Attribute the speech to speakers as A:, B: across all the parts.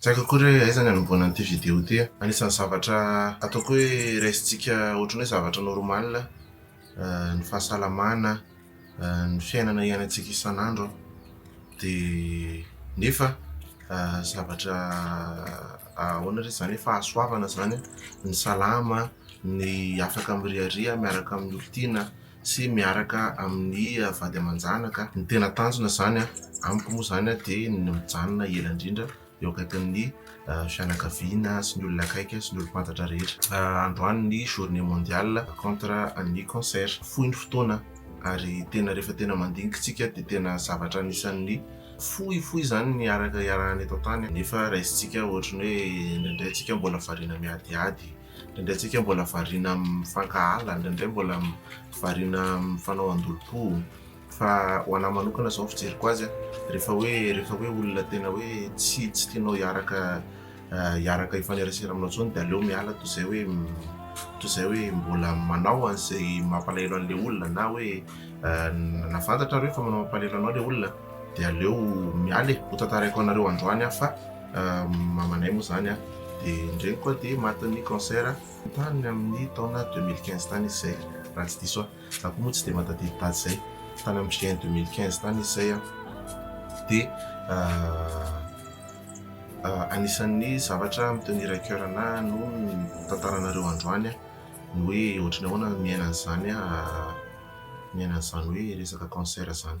A: Tsy haiko akory hoe aiza ny anombohana an'ity vidéo ity a. Anisan'ny zavatra ataoko hoe raisintsika ohatran'ny hoe zavatra normal ny fahasalamana, ny fiainana iainantsika isan'andro dia nefa zavatra ahoana re izany hoe fahasoavana izany ny salama, ny afaka mirehareha miaraka amin'ny olon-tiana. sy miaraka amin'ny vady aman-janaka. Ny tena tanjona izany amiko moa izany dia ny mijanona ela indrindra eo akaikin'ny fianakaviana sy ny olona akaiky sy ny olom-pantatra rehetra. Androany ny journée mondiale contre ny cancer. Fohy ny fotoana ary tena rehefa tena mandinika isika dia tena zavatra anisan'ny fohy fohy izany ny iaraka iarahana eto an-tany nefa raisintsika ohatran'ny hoe indraindray isika mbola variana miadihady. Indraindray tsika mbola variana amin'ny mifankahala, indraindray mbola variana amin'ny fanao an-dolom-po. Fa ho anahy manokana izao ny fijeriko azy, rehefa hoe rehefa hoe olona tena hoe tsy tsy tianao hiaraka hiaraka hifanerasera aminao intsony dia aleo miala toy izay hoe toy izay hoe mbola manao an'izay mampalahelo an'ilay olona na hoe na fantatrareo fa manao mampalahelo anao ilay olona dia aleo miala e, hotantaraiko anareo androany aho fa. Mamanay moa zany dia ny reniko koa dia matin'ny cancer tany amin'ny taona deux mille quinze tany izy zay raha tsy diso aho. Za koa moa tsy dia mahatadidy daty zay. Tany amin'ny juin deux mille quinze tany izy zay dia anisan'ny zavatra mi-tenir à coeur anahy no tantaranareo androany ny hoe ohatry ny ahoana ny miaina an'izany miaina an'izany hoe resaka cancer zany.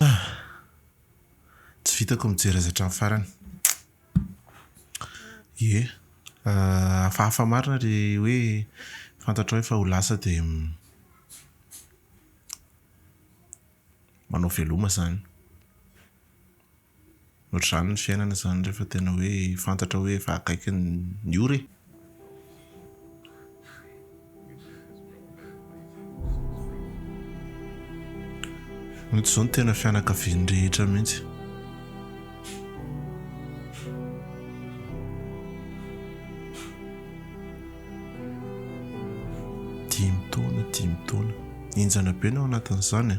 B: Ah!
A: Tsy vitako mijery azy hatramin'ny farany. Ie, hafahafa marina le hoe fantatrao efa ho lasa de manao veloma zany. Ohatr'izany ny fiainana izany rehefa tena hoe fantatra hoe efa akaiky ny ora e! Mety izao no tena fianakavian'ny rehetra mihitsy. Dimy taona, dimy taona. Henjana be ny ao anatin'izany e!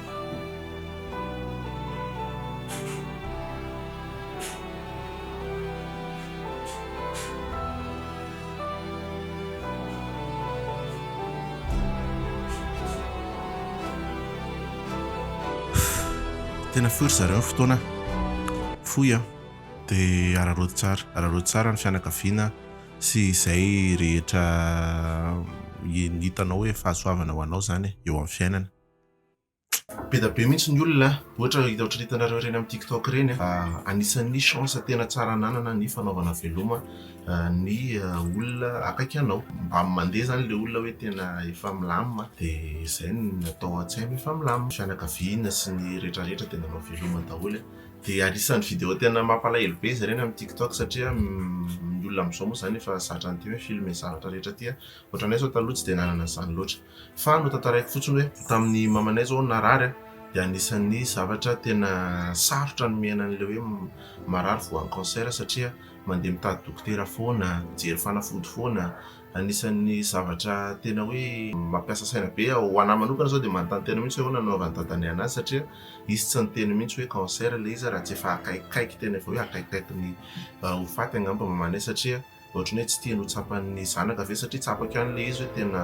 A: Tena fohy ry zareo fotoana fohy an! Dia araraoty tsara, araraoty tsara ny fianakaviana sy izay rehetra hitanao hoe fahasoavana ho anao izany eo amin'ny fiainana. Be dia be mihitsy ny olona ohatra ohatry ny hitanareo ireny amin'ny tiktok ireny anisan'ny chance tena tsara ananana ny fanaovana veloma ny olona akaiky anao mba mandeha izany ilay olona hoe tena efa milamina dia izay no natao an-tsaina efa milamina, fianakaviana sy ny rehetra rehetra dia nanao veloma daholo e! dia anisan'ny video tena mampalahelo be izy ireny amin'ny tiktok satria ny olona amin'izao moa izany efa zatra an'ity hoe filmer zavatra rehetra aty a! ohatranay izao taloha tsy dia nanana an'izany loatra. Fa notantaraiko fotsiny hoe tamin'ny mamanay izao narary dia anisan'ny zavatra tena sarotra nomena an'ilay hoe marary voan'ny cancer satria mandeha mitady dokotera foana, mijery fanafody foana, anisan'ny zavatra tena hoe mampiasa saina be. Ho an'ahy manokana izao dia manontany tena mihitsy hoe ahoana no nanaovan'ny dadanay an'azy satria izy tsy niteny mihitsy hoe cancer ilay izy raha tsy efa akaikikaiky tena efa hoe akaikikaiky ny ho faty angamba mamanay satria Ohatran'ny hoe tsy tiany ho tsapan'ny zanaka ve satria tsapako ihany ilay izy hoe tena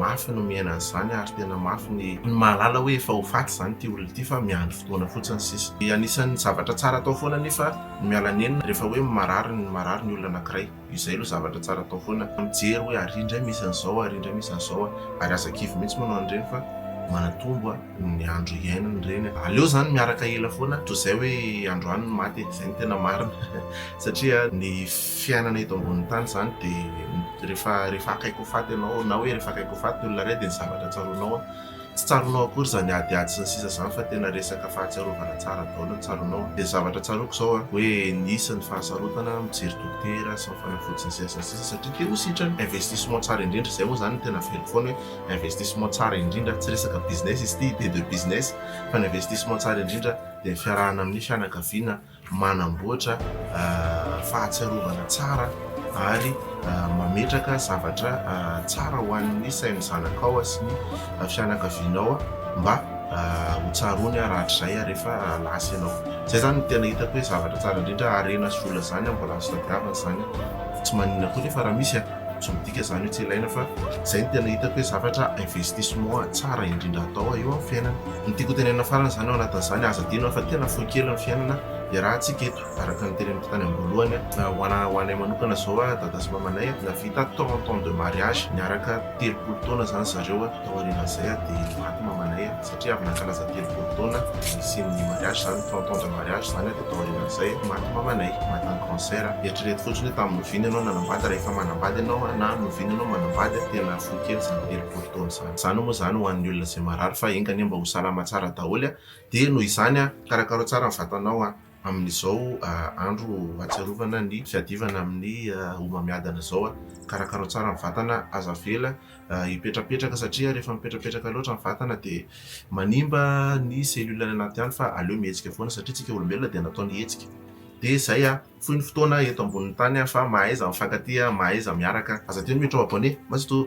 A: mafy no miaina an'izany ary tena mafy ny ny mahalala hoe efa ho faty izany ity olona ity fa miandry fotoana fotsiny sisa. Anisan'ny zavatra tsara atao foana anefa ny miala nenina rehefa hoe marary ny marary ny olona anankiray. Io izay aloha zavatra tsara atao foana. Mijery hoe ary indray misy an'izao, ary indray misy an'izao ary aza kivy mihitsy moa ianao an'ireny fa manatombo a! ny andro hiainany reny aleo zany miaraka ela foana to zay hoe androany ny maty e, zay ny tena marina satria ny fiainana eto ambonin'ny tany zany de rehefa rehefa akaiky ho faty ianao na hoe rehefa akaiky ho faty ny olona ray de ny zavatra tsaroanao an tsy tsaroanao akory zany adiady sy ny sisa zany fa tena resaka fahatsiarovana tsara daholo ny tsaroanao de ny zavatra tsaroako zao an hoe nisy ny fahasarotana mijery dokotera sy ny fanafody sy ny sisa sy ny sisa satria te ho sitrana investissement tsara indrindra zay moa zany ny tena velona foana hoe Investissement tsara indrindra, tsy resaka business izy ity, idée de business, fa ny investissement tsara indrindra dia ny fiarahana amin'ny fianakaviana manamboatra fahatsiarovana tsara ary mametraka zavatra tsara ho an'ny sain'ny zanakao sy ny fianakavianao mba ho tsaroany rahatrizay rehefa lasa ianao. Izay izany no tena hitako hoe zavatra tsara indrindra, harena sy vola izany mbola azo tadiavina izany, tsy maninona koa nefa raha misy a! Tsy midika izany hoe tsy ilaina fa izay no tena hitako hoe zavatra investissement tsara indrindra atao eo amin'ny fiainana. Ny tiako hotenenina farany izany ao anatin'izany, aza adino fa tena fohy kely ny fiainana iarahantsika eto, araka ny teneniko tany am-boalohany, ho anay ho anay manokana izao dada sy mamanay nahavita trente ans de mariage, niaraka telopolo taona izany zareo, taorian'izay dia maty mamanay. satria avy nankalaza telopolo taona nisian'ny mariage zany trente ans de mariage zany de tao aorianan'izay maty mamanay maty en cancer eritrereto fotsiny hoe tamin'ny noviana ianao nanambady rehefa manambady ianao na noviana ianao manambady tena fohy kely zany telopolo taona zany zany moa zany ho an'ny olona izay marary fa enga anie mba ho salama tsara daholo dia noho izany karakaro tsara ny vatanao a Amin'izao andro ahatsiarovana ny fiadivana amin'ny homamiadana izao, karakarao tsara ny vatana, aza avela hipetrapetraka satria rehefa mipetrapetraka loatra ny vatana dia manimba ny cellule any anaty any fa aleo mihetsika foana satria isika olombelona dia nataony hihetsika. Dia izay a! Fohy ny fotoana eto ambonin'ny tany fa mahaiza mifankatia, mahaiza miaraka. Aza teny hoe trop abonné ma c'est tout.